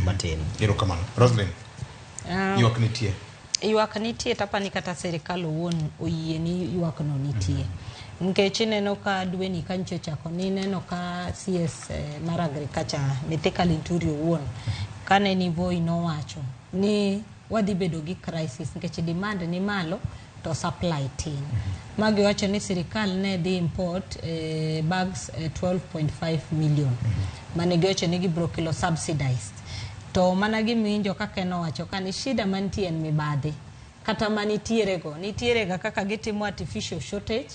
matin. Erokamano. Roslyn, Ah, ywak nitie. ywak nitie to apani kata sirikal owuon oyie ni ywak no nitie nikech ineno ka dweni ka nchi ochako ni ineno ka cs eh, mar agriculture mithika linturi owuon kane ni voi nowacho ni wadhi bedo gi crisis nikech demand ni malo to supply tin. Ma giwacho ni sirikal ne dhi import eh, bags eh, 12.5 million mane giwacho ni gibiro kelo subsidized. To mana giminjo kaka en owacho ka ni shida mantie en mibadhi kata ma nitierego nitierega kaka gitimo artificial shortage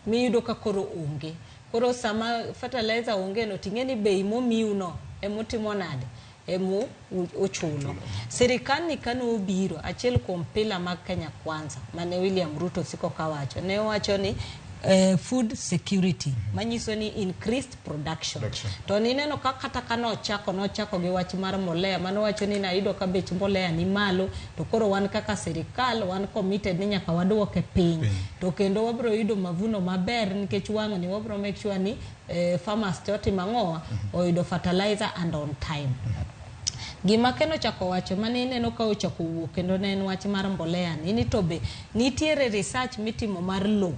miyudo ka koro onge koro sama fertilizer onge no ting'e ni bei momiuno emotimo nade emu ochuno. Sirikal ni kane obiro, achiel kuom pila mag Kenya Kwanza mane William Ruto siko kawacho, ne owacho ni eh, food security manyiso ni increased production. Production. To nineno ka kata ka nochako nochako gi wach mar mbolea mano wacho ni nayudo ka bech mbolea ni malo to koro wan kaka sirikal wan committed ni nyaka waduoke piny. To kendo wabiro yudo mavuno maber nikech wang'ni wabiro make sure ni eh, farmers te otimo ang'owa oyudo fertilizer and on time gima keno chako wacho mane ineno ka ochako wuok kendo ne en wach mar mbolea ni ni to be nitiere research mitimo mar low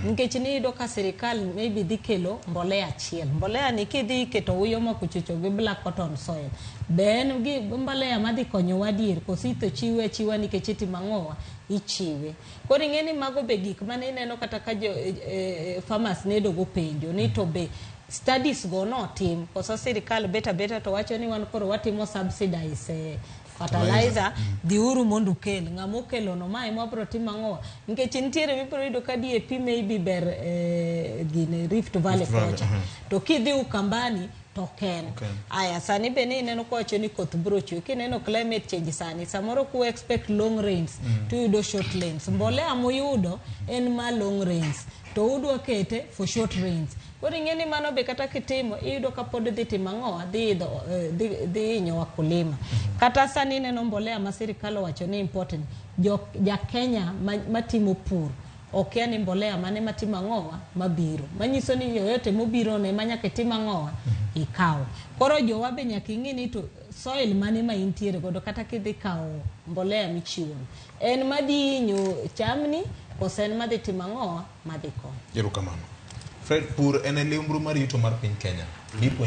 nikech niyudo ka sirikal maybe dhi kelo mbolea achiel mbolea ni kidhi iketo uyo ma kuchucho gi black cotton soil be en gi mbolea madhi konyowa adier koso itho chiwe achiwa nikech itimo ang'owa ichiwe Koro ing'e ni mago be gik mane ineno kata ka jo e, e, farmers ne dogo penjo ni to be studies go notim koso sirikal beta beta to wacho ni wan koro watimo subsidize eh, fertilizer mm. dhiuru mondo ukel ng'ama okelono ma ema wabiro timo ang'owa nikech nitiere mibiro yudo ka DAP maybe ber eh, gine Rift Valley kocha uh-huh. to kidhi Ukambani to ok en Ok en. aya sani be ni ineno kwacho ni koth biro chwe kineno climate change sani samoro ku expect long rains to yudo short rains mbolea muyudo en ma long rains to udwa kete for short rains koro ing'e ni mano be kata kitimo iyudo ka pod dhi timo ang'owa dhi idho eh, dhi- dhi hinyo wakulima kata sani ineno mbolea ma sirikal owacho ni important jo ja kenya ma- matimo pur okia ni mbolea mane matimo ang'owa mabiro. Manyiso ni yoyote mobiro ne manyaka itim ang'owa ikaw. Koro jowa be nyaka ing'e ni to soil mane ma intiere godo kata kidhi kaw mbolea michiwo no. En madhi inyo chamni kose en madhi timo ang'owa madhi konyo. Erokamano. Fred, pur en e liumbru mar yuto mar piny Kenya. Nipuonjwa